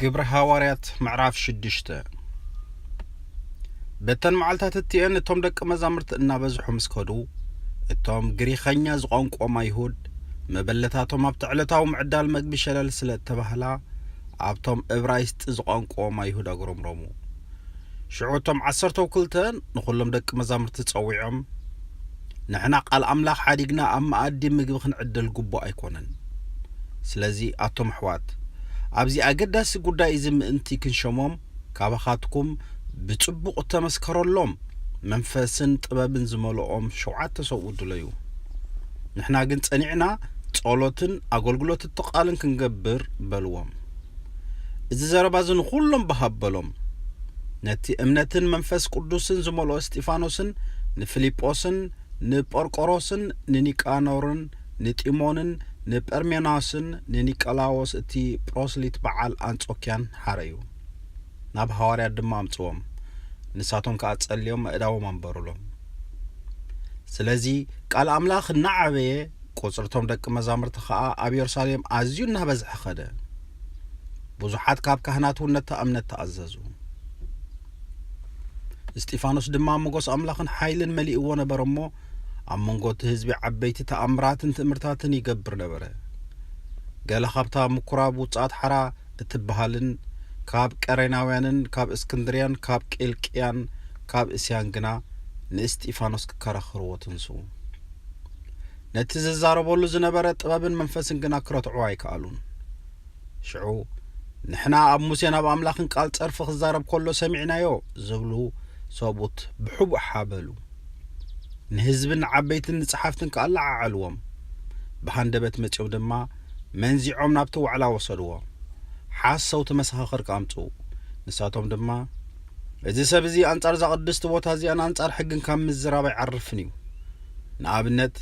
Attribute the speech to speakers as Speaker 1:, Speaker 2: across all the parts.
Speaker 1: ግብሪ ሃዋርያት ምዕራፍ ሽዱሽተ በተን መዓልታት እትኤን እቶም ደቂ መዛሙርቲ እናበዝሑ ምስ ከዱ እቶም ግሪኸኛ ዝቋንቆም ኣይሁድ መበለታቶም ኣብቲ ዕለታዊ ምዕዳል መግቢ ሸለል ስለ እተባህላ ኣብቶም እብራይስጢ ዝቋንቆም ኣይሁድ ኣጉረምረሙ ሽዑ እቶም ዓሰርተው ክልተ ንዅሎም ደቂ መዛሙርቲ ጸዊዖም፣ ንሕና ቓል ኣምላኽ ሓዲግና ኣብ መኣዲ ምግቢ ኽንዕድል ግቡእ ኣይኰነን። ስለዚ፣ ኣቱም ኣሕዋት፣ ኣብዚ ኣገዳሲ ጕዳይ እዚ ምእንቲ ኽንሸሞም፣ ካባኻትኩም ብጽቡቕ እተመስከረሎም መንፈስን ጥበብን ዝመልኦም ሸውዓተ ሰብኡት ድለዩ። ንሕና ግን ጸኒዕና ጸሎትን ኣገልግሎት እቲ ቓልን ክንገብር በልዎም። እዚ ዘረባ እዚ ንዅሎም ባህ ኣበሎም። ነቲ እምነትን መንፈስ ቅዱስን ዝመልኦ እስጢፋኖስን ንፊልጶስን ንጶርቆሮስን ንኒቃኖርን ንጢሞንን ንጰርሜናስን ንኒቀላዎስ እቲ ጵሮስሊት በዓል ኣንጾክያን ሓረዩ። ናብ ሃዋርያት ድማ ኣምጽዎም፣ ንሳቶም ከኣ ጸልዮም ኣእዳዎም ኣንበሩሎም። ስለዚ ቃል ኣምላኽ እናዓበየ ቍጽሪ እቶም ደቂ መዛሙርቲ ኸኣ ኣብ የሩሳሌም ኣዝዩ እናበዝሐ ኸደ። ብዙሓት ካብ ካህናት እውን ነታ እምነት ተኣዘዙ። እስጢፋኖስ ድማ ሞገስ ኣምላኽን ሓይልን መሊእዎ ነበረ እሞ፣ ኣብ መንጎ እቲ ህዝቢ ዓበይቲ ተኣምራትን ትእምርታትን ይገብር ነበረ። ገለ ኻብታ ምኵራብ ውጽኣት ሓራ እትብሃልን ካብ ቀሬናውያንን ካብ እስክንድርያን ካብ ቂልቅያን ካብ እስያን ግና ንእስጢፋኖስ ኪከራኸርዎ ተንስኡ። ነቲ ዝዛረበሉ ዝነበረ ጥበብን መንፈስን ግና ክረትዑ ኣይከኣሉን ሽዑ ንሕና ኣብ ሙሴን ኣብ ኣምላኽን ቃል ጸርፊ ክዛረብ ከሎ ሰሚዕናዮ ዝብሉ ሰብኡት ብሕቡእ ሓበሉ ንህዝብን ዓበይትን ንጸሓፍትን ከኣ ለዓዓልዎም ብሃንደበት መጺኦም ድማ መንዚዖም ናብቲ ዋዕላ ወሰድዎ ሓሰውቲ መሰኻኽር ከኣምጽኡ ንሳቶም ድማ እዚ ሰብ እዚ ኣንጻር እዛ ቅድስቲ ቦታ እዚኣን ኣንጻር ሕግን ካብ ምዝራብ ኣይዓርፍን እዩ። ንኣብነት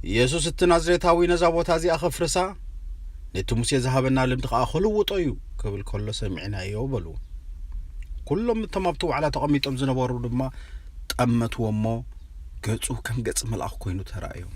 Speaker 1: ኢየሱስ እቲ ናዝሬታዊ ነዛ ቦታ እዚኣ ከፍርሳ ነቲ ሙሴ ዝሃበና ልምዲ ከኣ ክልውጦ እዩ ክብል ከሎ ሰሚዕናዮ በሉ። ኩሎም እቶም ኣብቲ ዋዕላ ተቐሚጦም ዝነበሩ ድማ ጠመትዎ እሞ ገጹ ከም ገጽ መልኣኽ ኮይኑ ተራእዮም።